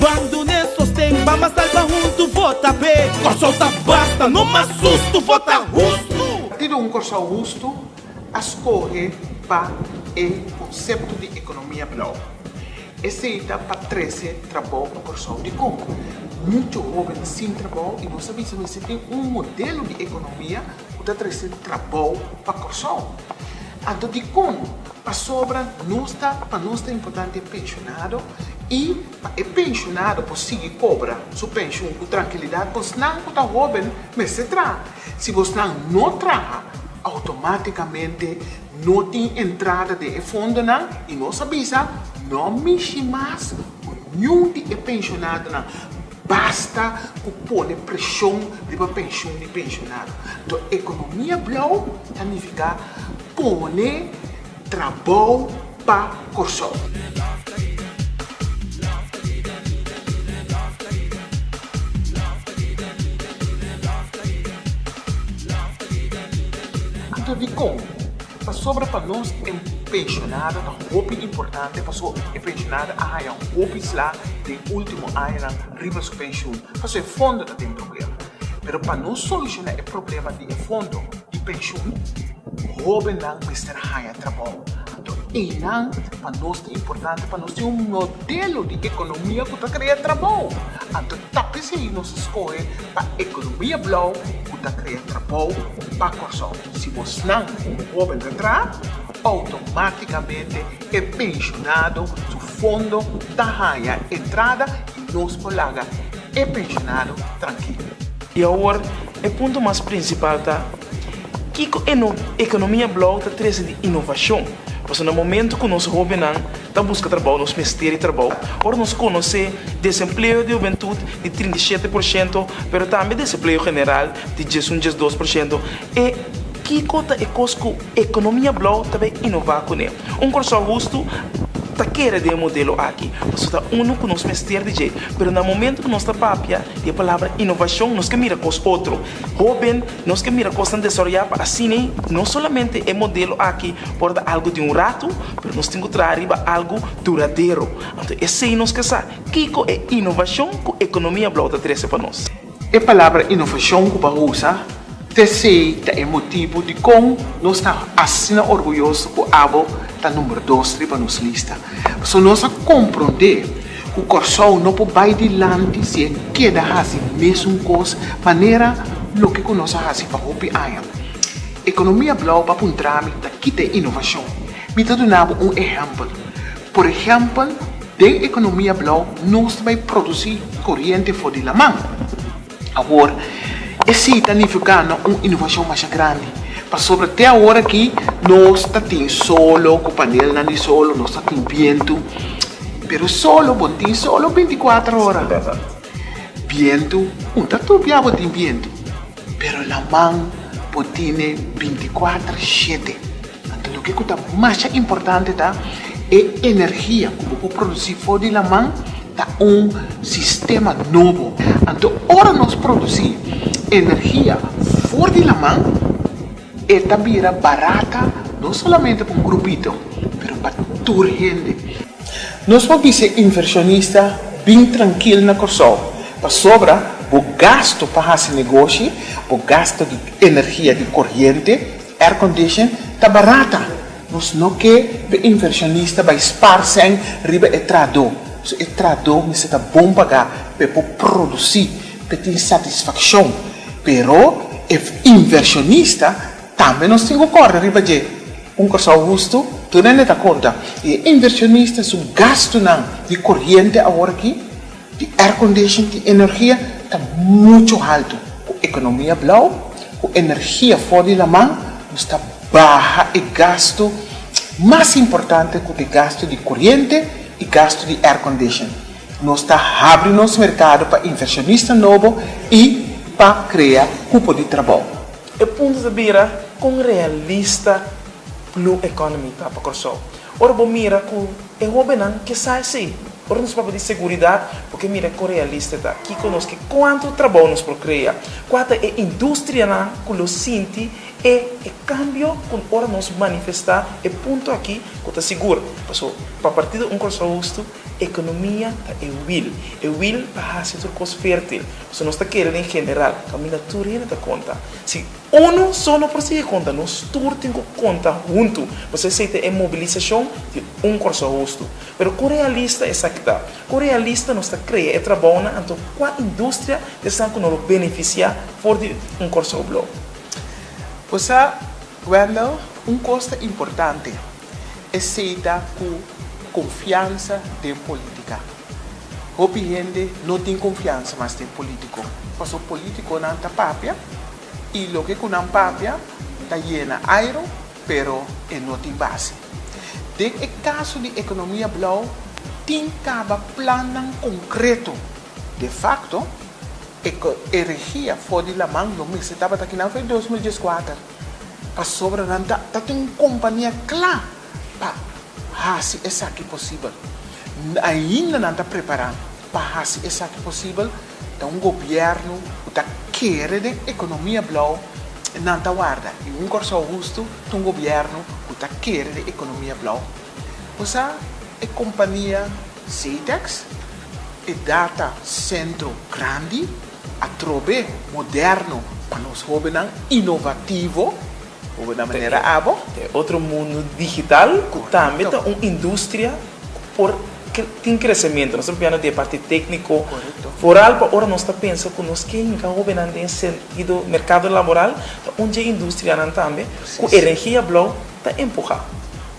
Ban dun'e sosten Ban mas alba huntu Vota pe Kòrsou ta basta No mas sustu Vota hustu! Parti di un Kòrsou hustu a skohe pa e konsepto di ekonomia blou. Esei ta pa trese trabou pa Kòrsou. Dikon? Muchu hóben sin trabou i nos a bisa mester tin un modelo di ekonomia ku ta trese trabou pa Kòrsou. Anto dikon Pasobra nos ta, pa nos ta importante e penshunado i pa e penshunado por sigui kobra su penshun ku trankilidat, bosnan ku ta hóben mester traha. Si bosnan no traha, outomátikamente no tin entrada den e fondonan i nos a bisa no mishi mas ku niun di e penshunadonan. Basta ku pone preshon riba penshun di penshunado. Anto ekonomia blou ta nifiká. Pone trabou pa Kòrsou. Punto dikon? Pasobra pa nos e penshonado ta hopi importante paso e penshonado a haña hopi sla den e último añanan riba su penshun paso e fondo ta den problema. Pero pa nos solushoná e problema di e fondo, di penshun, hóbennan mester haña trabou. Anto einan pa nos ta importante pa nos tin un modelo di ekonomia ku ta krea trabou. Anto ta p'esei nos skohe pa ekonomia blou ku ta krea trabou pa Kòrsou. Si bosnan komo hóben ta tra, outomátikamente e penshunado su fondo ta haña entrada i nos por laga E pensionado trankil. I awor e punto mas prinsipal ta, kiko e ekonomia blou ta trese di inovashon, pasobra na momentu ku nos hóbennan ta buska trabou nos mester e trabou, ora nos konosé desempleo di hobentut di trinta i shete por shento pero tambe desempleo general di djes un djes dos por shento, e kiko ta e kos ku ekonomia blou ta bai inová kuné? Un Kòrsou hustu ta kere den e modelo aki, pasobra ta unu ku nos mester di dje. Pero na momentu ku nos ta papia di e palabra inovashon, nos ke mira kos otro. Hóben, nos ke mira kosnan desaroyá pa asina no solamente e modelo aki por ta algu di un ratu, pero nos tin ku traha riba algu duradero. Anto esei nos ke sa kiko e inovashon ku ekonomia blou ta trese pa nos. E palabra innovacion cu bo a usa tesey ta e motibu dicon nos ta asina orguyoso cu abo ta number dos riba nos lista. Pasobra nos a comprende cu Corsou no por bay dilanti si e keda haci mesun cos manera loke cu nos a haci pa hopi aña. Economia Blauw ba puntra mi ta kita e innovacion. Mi ta duna bo un ehempel. Por ehèmpel, den ekonomia blou nos ta bai produsí koriente for di laman. Awor, e sí ta nifiu gana un inovashon masha grandi, pasobra te awor akí nos ta tin solo ku panelnan di solo, nos ta tin bientu, pero solo bo tin solo binti kuater ora. Bientu un ta tupia bo tin bientu, pero laman bo tine binti kuater shete. Anto lo ke ku ta masha importante ta e energia ku bo por produsí for di laman ta un sistema nobo. Anto ora nos produsí energia for di laman e ta bira barata no solamente pa un grupito pero pa tur hende. Nos por bis'e invershonista bin trankil na Kòrsou pasobra bo gastu pa hasi negoshi, bo gastu di energia di koriente, Air condition ta barata, nos no ke be inversionista bai spar sèn riba e trahadó, so e trahadó mester ta bon pagá pa e por produsí, pa e tin satisfakshon. Pero e inversionista tambe nos tin ku kòrda riba dje. Un Kòrsou hustu, tur hende ta konta, i e inversionista su gastunan di koriente awor aki? Di aircondition tin energia ta mucho halto. Cu economia blauw, cu energia for di laman, nos ta baha e gasto mas importante cu t'e gasto di coriente y gasto di aircondition. Nos ta habri nos mercado pa inversionista nobo y pa crea cupo di trabao. E punto ta bira con realista blue economy ta pa Corsou. Ora bo mira cu E hóbennan ke sa esei. Ora nos papia di seguridat, bo ke mira kon realista e ta. Kiko nos ke kuantu trabou nos por krea? Kua ta e industrianan ku lo sinti e e kambio ku ora nos manifestá e punto aki ku ta sigur? Paso pa partido Un Kòrsou Hustu, ekonomia ta e wil, e wil pa hasi tur kos fértil. Paso nos ta kere den general kaminda tur hende ta konta si. Unu so no por sigui konta, nos tur tin ku konta huntu pa ser esei ta e mobilisashon di un Kòrsou hostu. Pero kon realista esaki ta? Kon realista nos ta krea e trabounan anto kua industria ta esan ku no lo benefisiá for di un Kòrsou blou? Bo sa, Wendell, un kos ta importante. Esei ta cu confiansa den politica. Hopi hende no tin confiansa mas den politico, pasobra politiconan ta papia y loke cu nan papia ta yena airo pero e no tin base. Den e caso di economia blauw tin caba plannan concreto. De facto, e regia for di laman lo mester tabata aki nan fue dos mil dieskuater. Pasobra nan ta ta tin un kompania kla pa hasi esaki posibel. N ainda nan ta prepará pa hasi esaki posibel, ta un gobièrnu ku ta kere den ekonomia blou nan ta warda i un Kòrsou hustu ta un gobièrnu ku ta kere den ekonomia blou. Bo sa e kompania Setex, e data sentro grandi? Atrobe moderno pa nos hobennan inovativo, hobe na manera abo. Ta e otro mundu digital ku tambe ta un industria ku por tin kresementu. Nos ta papia no di e parti tekniko foral pa ora nos ta pensa ku nos ke hinka hobennan den e sentido merkado laboral ta un dje industrianan tambe ku e rengia blou ta empuhá.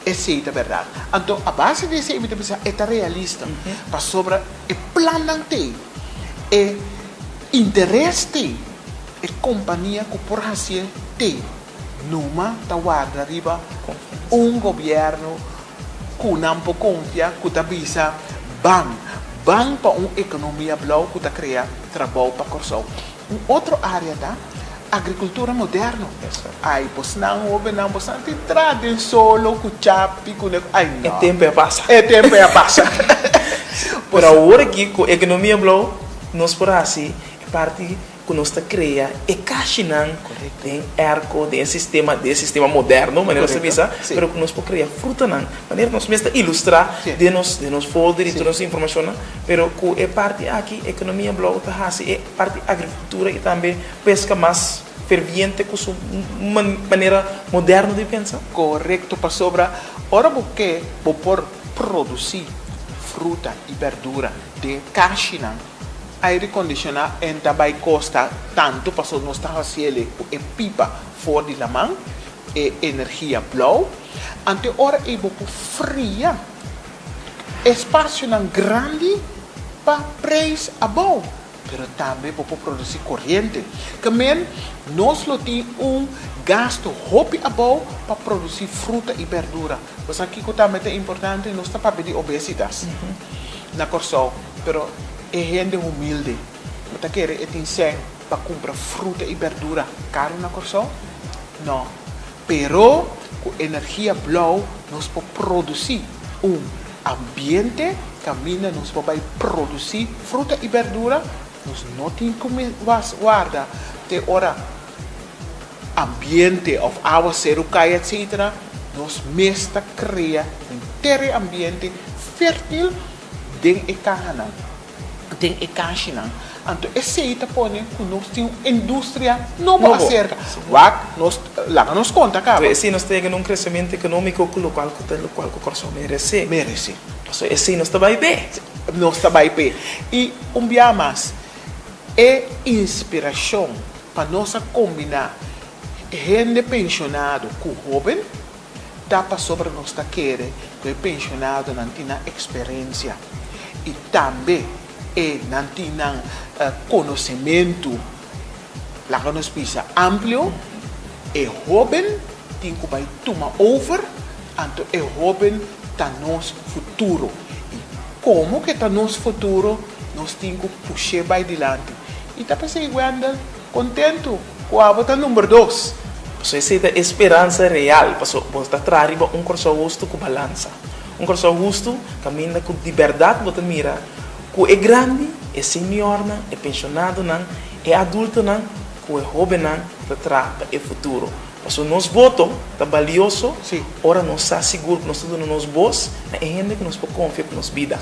Esei ta bèrdat. Anto a base di esei mi ta bisa e ta realista pasobra e plannan t'ei. E interes di e kompania ku por hasié te numa ta warda riba un gobièrnu ku nan por konfia ku ta bisa ban, ban pa un ekonomia blou ku ta krea trabou pa Kòrsou. Un otro área ta agrikultura moderno. Ai pos nan hóbennan bo san tin tra den solo ku chapi ku ne. Ai no. E tempu a pasa. E tempu a pasa. Pero awor aki ku ekonomia blou nos por hasi e parti ku nos ta krea e kashinan den erko den e sistema den e sistema moderno manera nos ta bisa pero ku nos por krea frutanan manera nos mes ta ilustrá den nos den nos folder i tur nos informashonnan pero ku e parti aki ekonomia blou ta hasi e Parti agrikultura i tambe peska mas ferviente ku su manera moderno di pensa. Korekto, pasobra ora bo ke bo por produsí fruta i berdura den e kashinan aire kondisioná e no ta bai kosta tantu pasobra nos ta hasi ele ku e pipa for di laman, e energia blou. Anto e ora ei bo por fria. Espasionan grandi pa preis abou, pero tambe bo por produci coriente. Camen, nos lo tin un gasto hopi abou pa produci fruta y berdura. Bo sa kico tambe ta importante? Nos ta papia di obesitas na Corsou, pero e hende humilde bo ta kere e tin seng pa cumpra fruta y berdura caro na Corsou? No. Pero ku energia blou nos por produsí un ambiente kaminda nos por bai produsí fruta i berdura. Nos no tin ku mas warda te ora ambiente òf awa seru kai etsetera. Nos mes ta krea un teren ambiente fértil den e kahanan. den e kashinan. Anto esei ta pone ku nos tin un industria nobo aserka, wak nos laga nos konta kaba. Esei nos ta yega na un kreshementu ekonomiko ku lokual ku ta lokual ku Kòrsou merese. Merese. Pasobra esei nos ta bai pe. Nos ta bai pe. I un bia mas, e inspirashon pa nos a kombiná hende penshonado ku hóben. Ta pasobra nos ta kere ku e penshonadonan tin nan eksperensia i tambe e nan tin nan konosementu, laga nos bisa amplio, e hóben tin ku bai tuma over, anto e hóben ta nos futuro i komo ke ta nos futuro nos tin ku push'é bai dilanti i ta p'esei Wendell? Kontentu ku abo ta number dos. Paso esei ta e speransa real, paso bo ta traha riba un Kòrsou hustu ku balansa. Un Kòrsou hustu kaminda ku di bèrdat bo ta mira ku e grandi, e seniornan, e penshonadonan, e adultonan ku e hóbennan ta traha pa e futuro. Paso nos boto ta balioso ora nos sa sigur ku nos ta duna nos bos na e hende ku nos por konfia ku nos bida,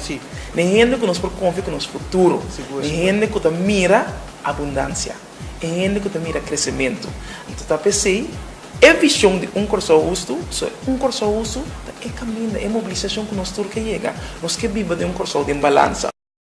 na e hende ku nos por konfia ku nos futuro, na e hende ku ta mira Abundansia. E hende ku ta mira kresementu. Anto ta p'esei e vishon di un Kòrsou hustu. So e un Kòrsou hustu ta e kaminda, e mobilisashon ku nos tur ke yega. Nos ke biba den un Kòrsou den balansa.